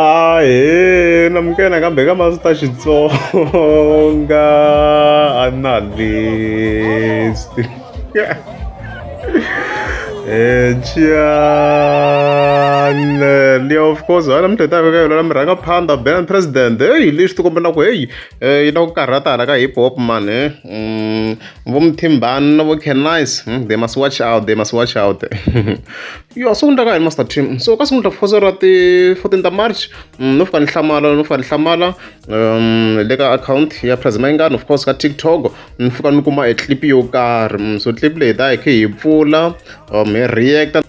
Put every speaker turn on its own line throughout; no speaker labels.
Ah, eh, na mukena kambe ka mavita Xitsonga a na lesti. Eh, Chiane, Leo, of course, wena mdleta ka yona la mirhanga phanda ben president. Hey, lexi ti kombela ku hey, eh, yi na ku karhatala ka hip hop man, eh. Mm, vo muthimbani na vo canice hmm, they must watch out they must watch out yo so kundaka hi master team so ka sungula foso ra ti 14 ta march hmm, no fika ni hlamala no fika ni hlamala um le ka account ya president mayingani of course ka tiktok ni fika ni kuma e clip yo karhi hmm, so clip leyi ta hi khe hi pfula um hi reacta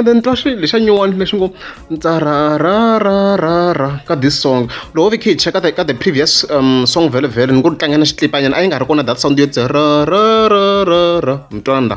ende ni twa swilo lexa nyuwani lexi ngo ntsararararara ka this song loko vi khe hi cheka ka the previous um, song vele vele ni ku ri tlangela xitlipanyana a yi nga ri kona that sound yo tsararararara mi twana la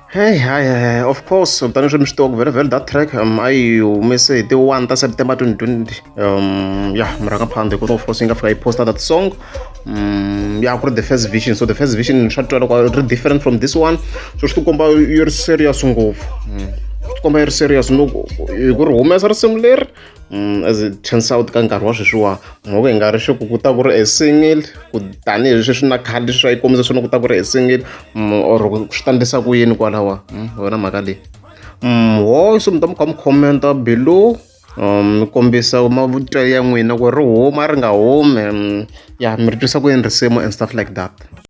Hey, hi, hi, of course tani swi mi swi tiwaku very very that track um a yi humese hi ti-one ta september 2020 um ya mi rhanga phanda hikuva of course yi nga fika yi posta that song um ya ku ri the first vision so the first vision swa twa loko ri different from this one so swi tikomba yi ri serious ngopfu mm. swi tikomba yi ri serious no hi ku ri humesa risimu leri Mm, as it turns out ka nkarhi wa sweswiwa mhoko hi nga ri xi ku ku ta ku ri a single ku tanihi leswi swi na khadi leswi a yi kombisa swona ku ta ku ri a single mm, or swi ta ndlisa ku yini kwalawa mm, wena mhaka leyi ho so mi ta mi kha mi commenta below um, mi kombisa mavutelo ya n'wina ku ri huma ri nga humi ya mi ri twisa ku yini risimu and stuff like that